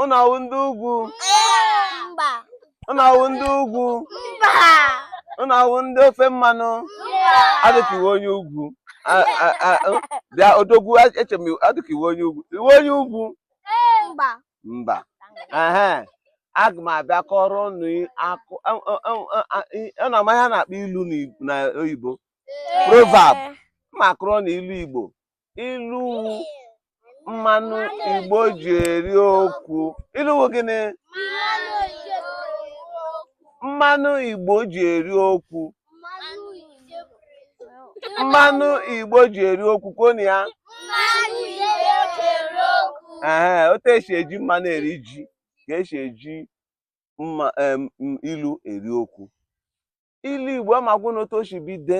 Unu ọ wụ ndị ugwu. Mba. Unu ọ wụ ndị ugwu. Mba. Unu ọ wụ ndị ofe mmanụ. Mba. Adịka iwe onye ugwu. Bịa odogwu eche m adịka iwe onye ugwu. Iwe onye ugwu. Mba. Mba. Aga m abịa kọọrọ unu akụkọ unu ama ihe a na-akpọ ilu n'oyibo. Proverb. Ma akọrọ unu ilu Igbo. ilu wụ mmanụ igbo ji eri okwu ilu wụ gịnị mmanụ igbo ji eri okwu mmanụ igbo ji eri okwu kwuonụ ya ee otu e si eji mmanụ eri ji ka e si eji ilu eri okwu ilu igbo aga m agwa unu otu o si bido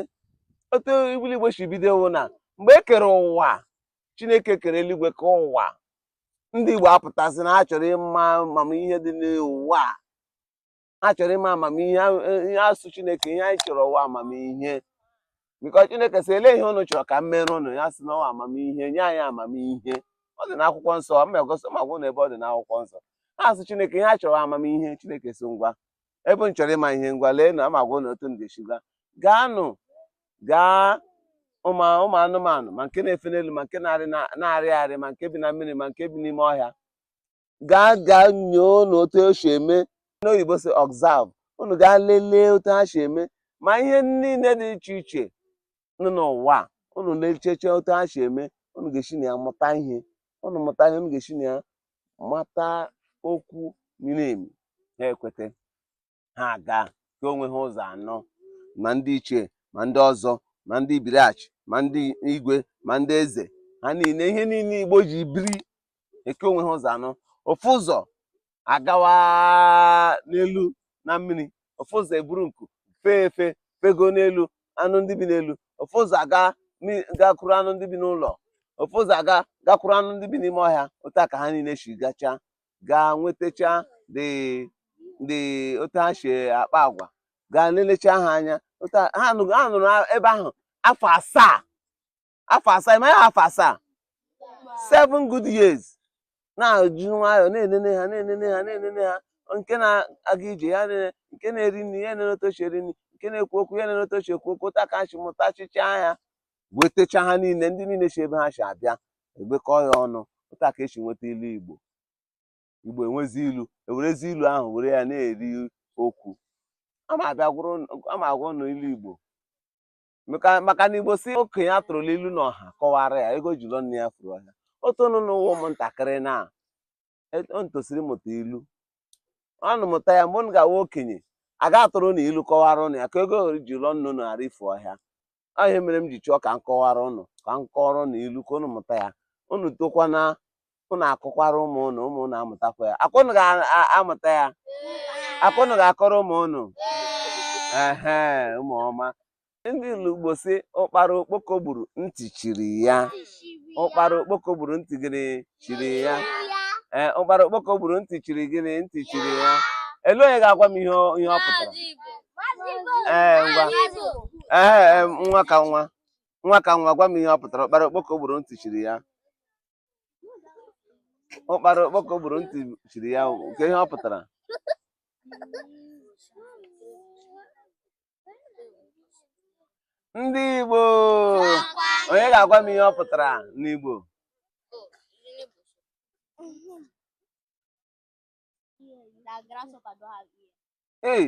otu ilu igbo si bido wụ na mgbe e kere ụwa chineke kere eluigwe kee ụwa ndị igbo apụta sị na ha chọrọ ịma amamihe dị n'ụwa a. ha chọrọ ịma amamihe ha asị chineke ihe anyị chọrọ wụ amamihe biko chineke sị elee ihe unu chọrọ ka m meere unu ha sị na ọ wụ amamihe nye anyị amamihe ọ dị n'akwụkwọ nsọ ma agaghị m agwa unu ebe ọ dị n'akwụkwọ nsọ ha asị chineke ihe ha chọrọ wụ amamihe chineke sị ngwa ebe unu chọrọ ịma ihe ngwa lee na aga m agwa unu otu unu ga-esi gaa gaanụ gaa ụmụ ụmụ anụmanụ ma nke na-efe n'elu ma nke na-arị na- na-arị arị ma nke bi na mmiri ma nke bi n'ime ọhịa gaa gaa nyoonụ otu o si eme n'oyibo sị observe unu gaa lelee otu ha si eme ma ihe niile dị iche iche nọ n'ụwa a, unu lecheche otu ha si eme unu ga-esi na ya mụta ihe unu mụta ihe unu ga-esi na ya mata okwu miri emi ha ekweta ha aga kee onwe ha ụzọ anọ ma ndị ichie ma ndị ọzọ ma ndị ibiriachi ma ndị igwe ma ndị eze ha niile ihe niile igbo ji biri eke onwe ha ụzọ anọ ofu ụzọ agawa n'elu na mmiri ofu ụzọ eburu nku fee efe fegoo n'elu anụ ndị bi n'elu ofu ụzọ aga gakwuru anụ ndị bi n'ụlọ ofu ụzọ aga gakwuru anụ ndị bi n'ime ọhịa otu a ka ha niile si gachaa gaa nwetacha ụdị otu ha si akpa agwa gaa nelecha ha anya ha nọrọ ebe ahụ afọ asaa afọ asaa ị ma ya afọ asaa seven good years na-eji nwayọọ na-enene ha na-enene ha na-enene ha nke na-aga ije ya nene nke na-eri nri ya nene otu o si eri nri nke na-ekwu okwu ya nene otu o si ekwu okwu otu a ka ha si mụtachịchaa ya wetecha ha niile ndị niile si ebe ha si abịa egbekọ ya ọnụ otu a ka e si nweta ilu igbo igbo enwezie ilu e werezie ilu ahụ were ya na-eri okwu ama agwa ụnụ ilu igbo maka na igbo sị okenye atụrụla ilu n'ọha kọwara ya ego ji lụọ nne ya furu ọhịa otu ụnụ na-awụ ụmụntakịrị na e, ụnụ tosiri mụta ilu ụnụ mụta ya mgbe ụnụ ga-awụ okenye a ga-atụrụ ụnụ ilu kọwara ụnụ ya ka ego ji lụọ nne ụnụ ghara ifu ọhịa ọ ihe mere m ji chọọ ka m kọwara ụnụ ka m kọọrọ ụnụ ilu ka ụnụ mụta ya ụnụ tokwana ụnụ akọkwara ụmụ ụnụ ụmụ ụnụ amụtakwa ya ọ kwa ụnụ ga-amụta ya ọ kwa ụnụ ga-akọrọ ụmụ ụnụ ehe ụmụ ọma ndị Igbo sị ụkpara okpoko gburu ntị chiri ya ụkpara okpoko gburu ntị gịnị chiri ya ee ụkpara okpoko gburu ntị chiri gịnị ntị chiri ya elee onye ga-agwa m ihe ọ- ihe ọ pụtara ee ngwa ee ee, nwa ka nwa nwa ka nwa gwa m ihe ọ pụtara ụkpara okpoko gburu ntị chiri ya ụkpara okpoko gburu ntị chiri ya nke ihe ọ pụtara ndị Igbo onye ga-agwa m ihe ọ pụtara n'Igbo ee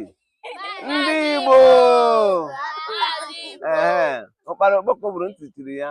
ndị Igbo ee ụkpara okpoko gburu ntị chiri ya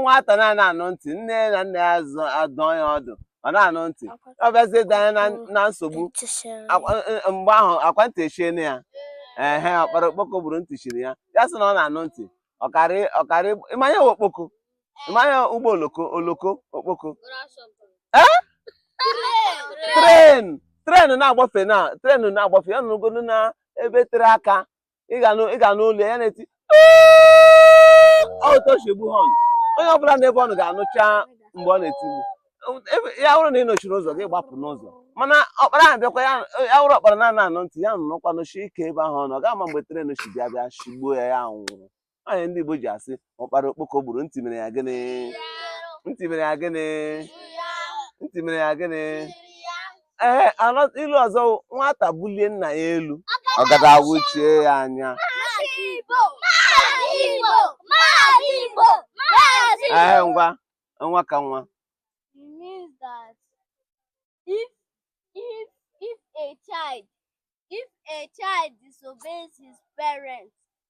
nwata na-ana anụ ntị nne na nna ya adụọ ya ọdụ ọ na-anụ ntị ọ bịazie danye na nsogbu mgbe ahụ ọ kwa ntị echiene ya ehe ụkpara okpoko gburu ntị chiri ya ya sị na ọ na-anụ ntị ọkarị ị ma ya okpoko ị ma ya ụgbọ oloko oloko okpoko ee tren tren na-agbafe na tren na-agbafe ya nọrọgodu n'ebe tere aka ị ga-anụ olu ya na-eti ọtọchigbu họn onye ọbụla n'ebe ọ nọ ga-anụcha mgbe ọ na-eti ya wụrụ na ị nọchiri ụzọ gị gbapụ n'ụzọ mana ụkpara ahụ bịakwa ya wụrụ ụkpara na-ana anụ ntị ya nọrọkwa nọshie ike ebe ahụ ọ nọ ọ ga-ama mgbe tren si bịa bịa shigbuo ya ya nwụrụ ọ ya ndị Igbo ji asị ụkpara okpoko gburu ntị mere ya gịnị ntị mere ya gịnị ntị mere ya gịnị ee ilu ọzọ nwata bulie nna ya elu ọgọdọ awụchie ya anya ee ngwa nwa ka nwa it means that if a child disobeys his parents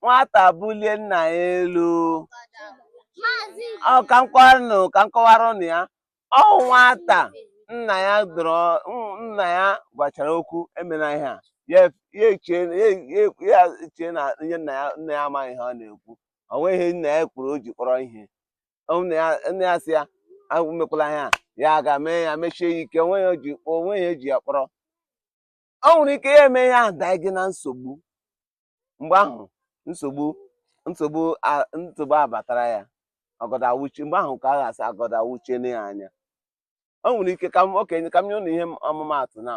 nwata bulie nna ya elu ọ ka m kọwaranụ ka m kọwara ụnụ ya ọ nwata nna ya dọrọ mm, nna ya gwachara okwu emena ihe a ya ya echie ya- ya- ya echie na ihe nna ya nna ya amaghị ihe ọ na-ekwu o nweghị ihe nna ya kwuru o ji kpọrọ ihe Ọ nna ya nna ya sị ya emekwala ihe a ya ga mee ya mesie ya ike o nweghị o ji o nweghị e ji ya kpọrọ o nwere ike ya eme ihe ahụ danye na nsogbu mgbe ahụ nsogbu nsogbu a- nsogbu abatara ya ọgọdọ awụchie mgbe ahụ ka a ga-asị ọgọdọ awụchiene ya anya o nwere ike ka m okenye ka m nye ụnụ ihe m- ọmụmaatụ na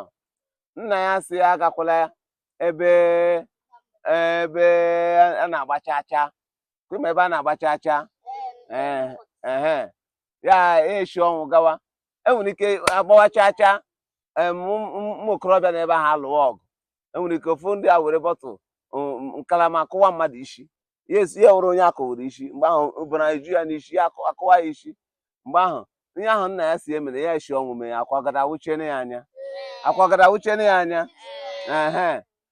nna ya sị ya agakwala ebe ebe a na-agba chaa chaa kwa ị ma ebe a na-agba chaa chaa ee ehe ya esi ọnwụ gawa enwere ike agbawa chaa chaa ụmụ okorobịa n'ebe ahụ alụwa ọgụ enwere ike ofu ndị a were bọtụl nkalama akụwa mmadụ isi ya awụrụ onye akụwara isi mgbe ahụ ọbara eju ya n'isi ya akụwa ya isi mgbe ahụ ihe ahụ nna ya sị emena ya esi ọnwụ mee ya akwa ọgọdọ awụchiene ya anya akwa ọgọdọ awụchiene ya anya ee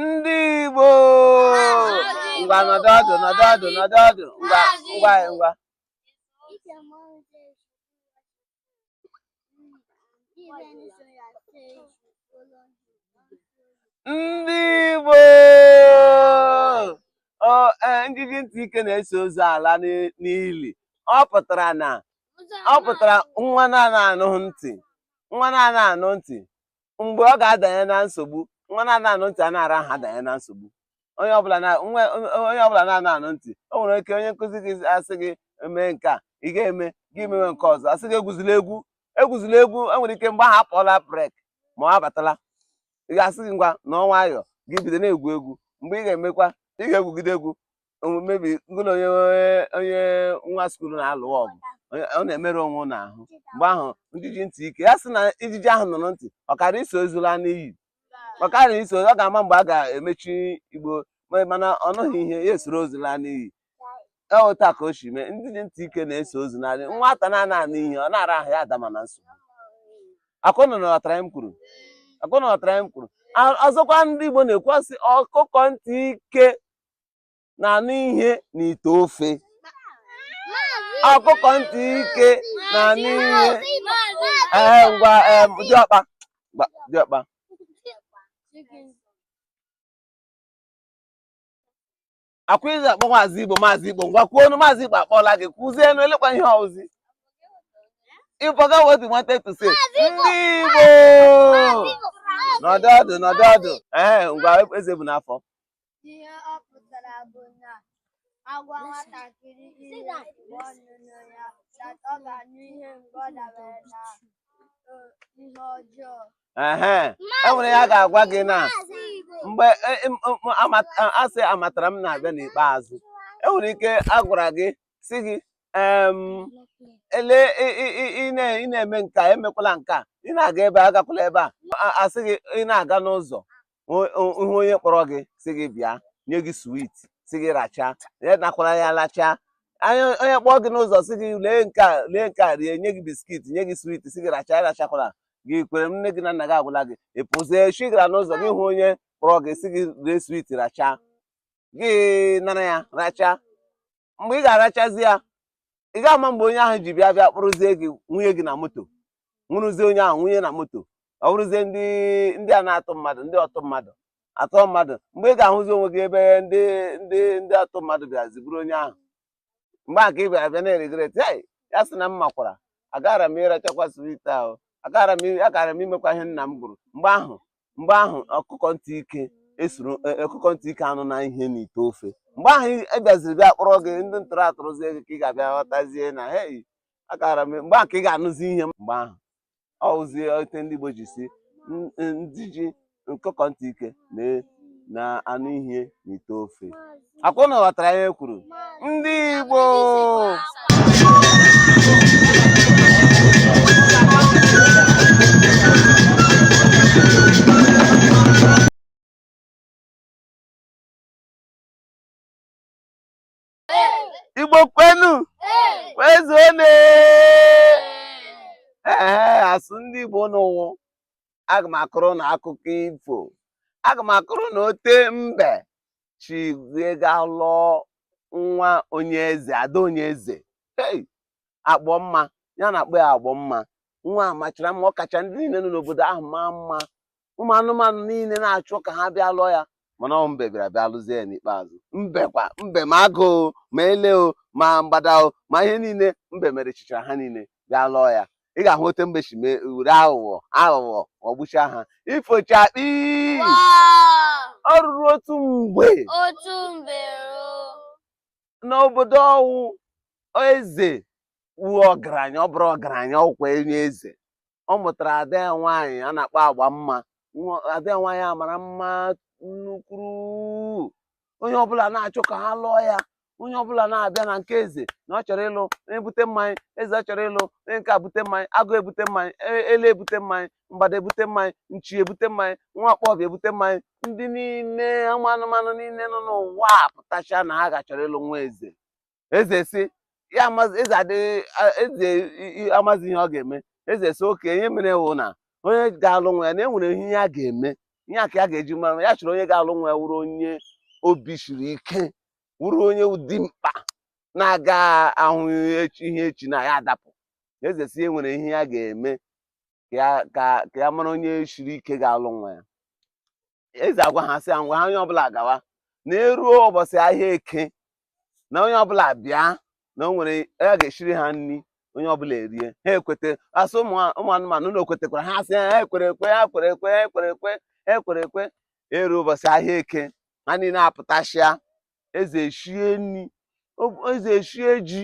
ndị Igbo ngwa nọdụ ọdụ nọdụ ọdụ nọdụ ọdụ ngwa ngwa ngwa ndị Igbo e, njiji ntị ike na-eso ozu ala n'ili ọ pụtara na ọ pụtara nwa na-ana anụ ntị nwa na-ana anụ ntị mgbe ọ ga-adanye na nsogbu nwa na-ana anụ ntị a na-ara ahụ adanye na nsogbu onye ọbụla na-ana anụ ntị o nwere ike onye nkụzi gị asị gị mee nke a ị ga-eme gị mewe nke ọzọ asị gị egwuzila egwu egwuzila egwu enwere ike mgbe ahụ akpọọla break ma ọ abatala a ga-asị gị ngwa nọ nwayọ gị bido na-egwu egwu mgbe ị ga-emekwa ị ga-egwugide egwu mebi ngụlọ onye onye nwa skuul na-alụ ọgụ ọ na-emerụ onwe na ahụ mgbe ahụ njiji ntị ike ya sị na ijiji ahụ nụrụ ntị ọ kara iso ozu la n'ili ọ kara iso ọ ga-ama mgbe a ga-emechi igbe mana ọ nụghị ihe ya esoro ozu laa n'ili eweta ka o si mee njiji ntị ike na-eso ozu n'ili nwata na-ana anụ ihe ọ na-ara ahụ ya adama na nsogbu ọkwa ụnụ ghọtara ihe m kwuru ọkwa ụnụ ghọtara ihe m kwuru ọzọkwa ndị Igbo na-ekwu sị ọkụkọ ntị ike na-anụ ihe n'ite ofe ọkụkọ ntị ike na-anụ ihe ee ngwa ee diọkpa ngwa diọkpa akwa izi akpọ maazị igbo maazị igbo ngwa kwuonụ maazị igbo akpọla gị kwuzienụ elekwa ihe ọ wụzi ịbọga what you wanted to say ndị igbo nọdụ ọdụ nọdụ ọdụ ee ngwa Ezebunafọ Ihe ọ pụtara bụ na a gwa nwatakịrị ihe mgbe ọ nụnụ ya that ọ ga-anụ ihe mgbe ọ dabara na eh, ihe ọjọọ. ehe e nwere ya ga-agwa gị na mgbe e- em- m- m- ama- a- asị amatara m na-abịa n'ikpeazụ e nwere ike a gwara gị sị gị em, ele ị- ị- ị- ị na- ị na-eme nke a emekwala nke a ị na-aga ebe a agakwala ebe a A- asị gị ị na-aga n'ụzọ ị hụ onye kpọrọ gị sị gị bịa nye gị swit sị gị rachaa ya anakwala ya lachaa onye kpọọ gị n'ụzọ sị gị lee nke a lee nke a rie nye gị biskit nye gị swit sị gị rachaa arachakwala gị kwere m nne gị na nna gị agwala gị ị pụzie echi gara n'ụzọ gị hụ onye kpọrọ gị sị gị lee swit rachaa gị nara ya rachaa mgbe ị ga-arachazi ya ị ga-ama mgbe onye ahụ ji bịa bịa kpụrụzie gị nwụnye gị na moto nwụrụzie onye ahụ nwụnye na moto ọ bụrụzie ndị ndị a na-atọ mmadụ ndị ọtọ mmadụ atọ mmadụ mgbe ị ga-ahụzi onwe gị ebe ndị ndị ndị atọ mmadụ bịazi buru onye ahụ mgbe a ka ị bịara bịa na-eregret ya sị na m makwara agara m ịrachakwa swit ahụ agara m imekwa ihe nna m gwara mgbe ahụ mgbe ahụ ọkụkọ ntị ike esoro e, e, ọkụkọ ntị ike anụna ihe n'ite ofe mgbe ahụ e bịaziri bịa kpụrụ gị ndị ntọrọ atọrọzie gị ka ị ga-abịa ghọtazie na hei agara m mgbe ahụ ka ị ga-anụzi ihe mgbe ahụ ọ wụzie ote ndị Igbo ji sị ndị ji ọkụkọ ntị ike na-anụ ihe n'ite ofe ọ kwa ụnụ ghọtara ihe m kwuru ndị Igbo Igbo kwenu kwezuonu ee asụ ndị Igbo n'ụwụ aga m akọrọ ụnụ akụkọ ifo aga m akọrọ ụnụ ote mbe si gaa ga lụọ nwa onye eze ada onye eze hey! Agbọmma a na-akpọ ya Agbọmma nwa a machara mma ọ kacha ndị niile nọ n'obodo ahụ maa mma ụmụ anụmanụ niile na-achọ ka ha bịa lụọ ya mana ọ wụ mbe bịara bịa lụzie ya n'ikpeazụ mbe kwa mbe ma agụ o ma ele o ma mgbada o ma ihe niile mbe merisichara ha niile bịa lụọ ya ị ga-ahụ ote mbe si mee were aghụghọ aghụghọ ghọgbucha ha ifocha kpii o ruru otu mgbe otu mgbe n'obodo ọ wụ eze wụ ọgaranya ọ bụrụ ọgaranya ọ wụkwa onye eze ọ mụtara ada ya nwaanyị a na-akpọ Agbọmma ada ya nwaanyị a mara mma nnukwuru onye ọbụla na-achọ ka ha lụọ ya onye ọbụla na-abịa na nke eze na ọ chọrọ ịlụ onye bute mmanya eze ọ chọrọ ịlụ onye nke a bute mmanya agụ ebute mmanya e- ele ebute mmanya mgbada ebute mmanya nchi ebute mmanya nwa ọkpọbịa ebute mmanya ndị niile ụmụ anụmanụ niile nọ n'ụwa apụtacha na ha ga chọrọ ịlụ nwa eze eze sị ya amazi eze adịghị a- eze i- i- amazi ihe ọ ga-eme eze sị okay ihe mere wụ na onye ga-alụ nwa ya na e nwere ihe ya ga-eme ihe a ka ya ga-eji mara ya chọrọ onye ga-alụ nwa ya wụrụ onye obi siri ike wụrụ onye wụ dimkpa na-aga ahụ echi- ihe echi na ya adapụ eze sị e nwere ihe ya ga-eme ka ya- ka ka ya mara onye siri ike ga-alụ nwa ya eze agwa ha sị ngwa ha onye ọbụla gawa na e ruo ụbọchị ahịa eke na onye ọbụla bịa na o nwere ya ga-eshiri ha nri onye ọbụla erie ha ekweta asị ụmụ anụmanụ ụnụ kwetekwara ha sị ha ekwere ekwe ha kwere ekwe ha ekwere ekwe ha ekwere ekwe eru ụbọchị ahịa eke ha niile apụtachia eze eshie nri eze eshie ji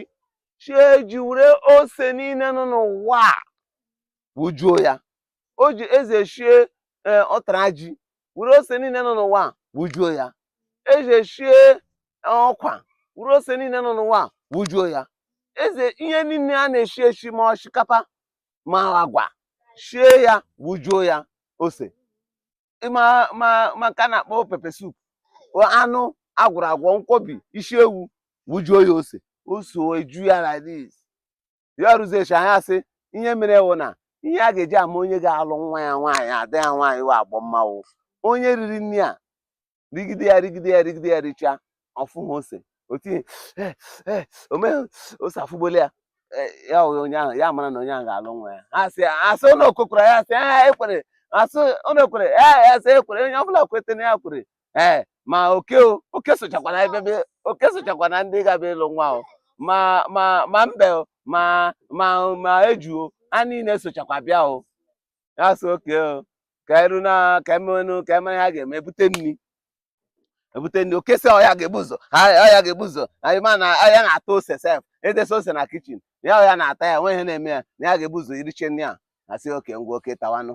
shie ji were ose niile nọ n'ụwa wujuo ya o ji eze eshie ee ụtara ji wuru ose niile nọ n'ụwa a wujuo ya eze eshie ụkwa wuru ose niile nọ n'ụwa a wujuo ya eze ihe niile a na-eshi eshi ma oshikapa ma agwa shie ya wujuo ya ose ma ma ma nke a na-akpọ pepper soup anụ a gwọrọ agwọ nkwobi isi ewu wujuo ya ose ose eju ya like this ya rụzechi anya asị ihe mere wụ na ihe a ga-eji ama onye ga-alụ nwa ya nwaanyị ada ya nwaanyị wụ agbọ mmanwụ onye riri nri a rigide ya rigide ya rigide ya richaa ọ fụha ose otinye eh, eh, o meghị ose afụgbuole ya eh, ya onye ahụ ya mara na onye ahụ ga-alụ nwa ya asị asị ụnụ ekwekwara ya asị ya ekwere asị ụnụ ekwere ya asị ekwere onye ọbụla kwetara ya kwere ee ma oke oke sochakwana ebe oke sochakwana ndị ga-abịa ịlụ nwa ahụ ma ma ma mbe o ma ma ma eju o ha niile sochakwa bịa o ya sị okay o ka eru na ka emenụ ka eme ha ga-eme ebute nri ebute nri oke sị ọ ya ga-ebu ụzọ ọ ya ga-ebu ụzọ anyị ma na ọ ya na-ata ose sef edesa ose na kitchen ya ọ ya na-ata ya nwe ihe na-eme ya na ya ga-ebu ụzọ iricha nri a asị oke ngwa oke tawanụ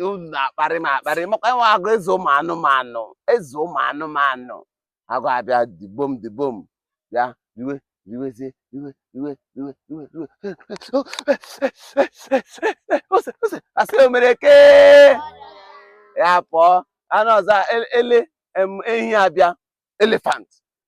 unu na-akparị m akparị m wụkwa nwa agụ eze ụmụ anụmanụ eze ụmụ anụmanụ agụ abịa dibom dibom bịa riwe riwezie riwe riwe riwe riwe riwe ose ose asị o mere ke ya pụọ anụ ọzọ ele em, ehi abịa elephant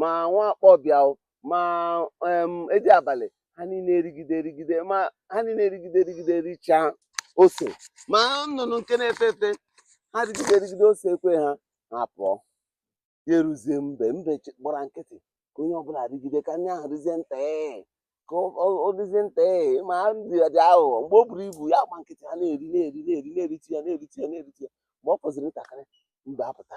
ma nwa akpọbịa o ma em, edi abalị ha niile erigide erigide ma ha niile erigide erigide richaa ose ma nnụnụ nke na-efe efe ha rigide erigide ose ekwe ha ha apụọ ya eruzie mbe mbe chi- gbara nkịtị ka onye ọbụla rigide ka nri ahụ rizie nta ee ka ọ- ọ ọ dịzie nta ee ma ha dị ya dị aghụghọ mgbe o buru ibu ya agba nkịtị ha na-eri na-eri na-eri na-eriti ya na-eriti ya na-eriti ya mgbe ọ fọziri ntakịrị mbe apụta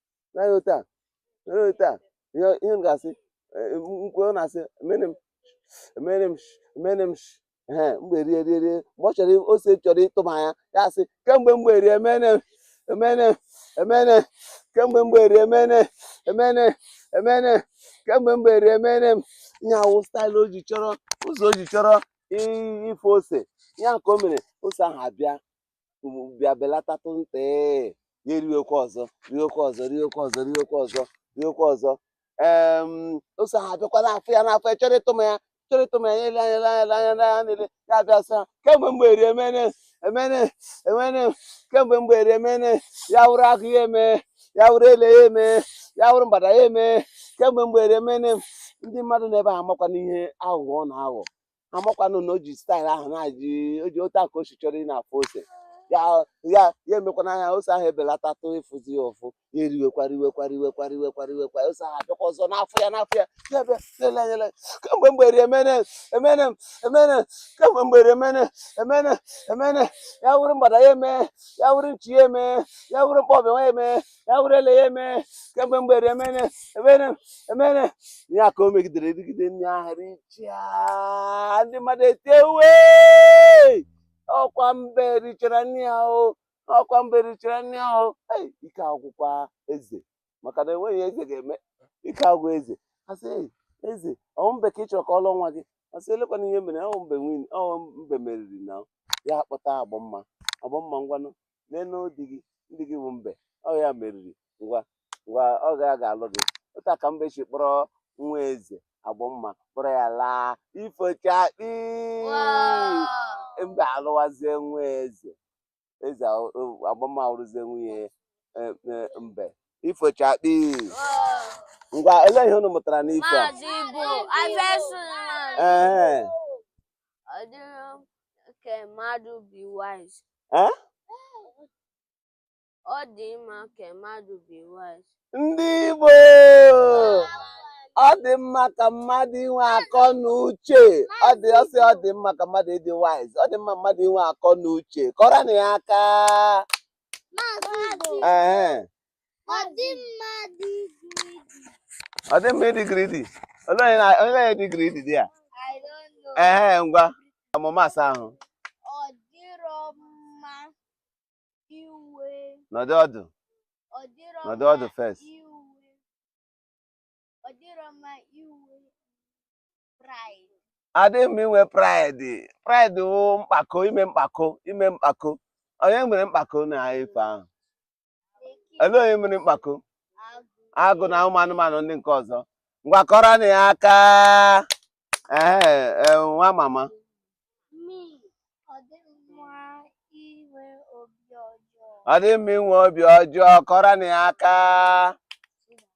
na ya otu a na ya otu a ihe ihe m ga-asị eh, m- ukwe ọ na-asị emene m emene m sh- emene m sh- ehe mgbe rie rie rie mgbe ọ chọrọ i- ose chọrọ ịtụma ya ya asị kemgbe mgbe rie emene m emene m emene m kemgbe mgbe rie emene m emene m emene m kemgbe mgbe rie emene m ihe a wụ staịlụ o ji chọrọ ụzọ o ji chọrọ i- ịfụ ose ya ka o mere ose ahụ abịa bịa belatatụ nta ee ya eriwekwa ọzọ riwekwa ọzọ riwekwa ọzọ riwekwa ọzọ riwekwa ọzọ em ose ahụ abịakwa na-afụ ya na-afụ ya chọrọ ịtụma ya chọrọ ịtụma ya ele anya ele anya ele anya ele anya niile ya abịa sị ha kemgbe mgbe eri emene emene emene kemgbe mgbe eri emene ya wụrụ agụ ya eme ya wụrụ ele ya eme ya wụrụ mgbada ya eme kemgbe mgbe eri emene ndị mmadụ n'ebe ahụ amakwana ihe aghụghọ ọ na-aghọ amakwanụ na o ji staịl ahụ na-ajị o ji otu a ka o si chọrọ ị na-afụ ose ya ya ya emekwana anya ose ahụ ebelatatụ ịfụzi ya ụfụ ya eriwekwa riwekwa riwekwa riwekwa riwekwa ose ahụ abịakwa ọzọ na-afụ ya na-afụ ya ya bịa lele anya lele kemgbe mgbe eri emene emene emene kemgbe mgbe eri emene emene emene ya wụrụ mgbada ya eme ya wụrụ nchi ya eme ya wụrụ mkpọbịa ya eme ya wụrụ ele ya eme kemgbe mgbe eri emene emene emene ya ka o megidere rigide nri ahụ richaa ndị mmadụ etie ewee ọkwa mbe richara nri a o ọkwa mbe richara nri a o ike agwụkwa eze maka na enweghị ihe eze ga-eme ike agwụ eze asị eze ọ wụ mbe ka ị chọrọ ka ọ lụọ nwa gị asị elekwana ihe mere ọ wụ mbe winiri ọ wụ mbe meriri nna ya akpọta agbamma agbamma ngwanụ neenụ di gị di gị bụ mbe ọ ya meriri ngwa ngwa ọ ya ga-alụ gị otu a ka mbe si kpọrọ nwa eze agbamma kpọrọ ya laa ifo chakpii mbe alụwazie nwa eze eze a- o- agbamma awụrụzie nwunye eh, eh, mbe ifo chakpii ngwa olee ihe unu mụtara n'ifo a Maazị Ibu, Iverson. Ee, Ọ dịrị Ka mmadụ be wise. Eh? Ọ dị mma ka mmadụ be wise. Ndị Igbo! Ọ dị mma ka mmadụ inwe akọ na uche. Ọ dị ọsị ọ dị mma ka mmadụ ịdị wise. Ọ dị mma mmadụ inwe akọ na uche. Kụọrọnụ ya aka. Maazị Igbo. Ehe. Ọ dị mma ịdị greedy. Ọ dị mma ịdị greedy. Olee onye na- olee onye dị greedy dị ya? I don't know. Ehe ngwa ọmụma asaa ahụ Ọ dịrọ mma iwe. nọdụ ọdụ first. Ọ dịrọ mma inwe pride. Ọ dị mma inwe pride. Pride wụ mkpako ime mkpako ime mkpako. Onye nwere mkpako na ife ahụ? olee onye mere mkpako agụ na ụmụ anụmanụ ndị nke ọzọ ngwa kụọrọnụ ya aka ee nwa mama ọ dị mma inwe obi ọjọọ kụọrọnụ ya aka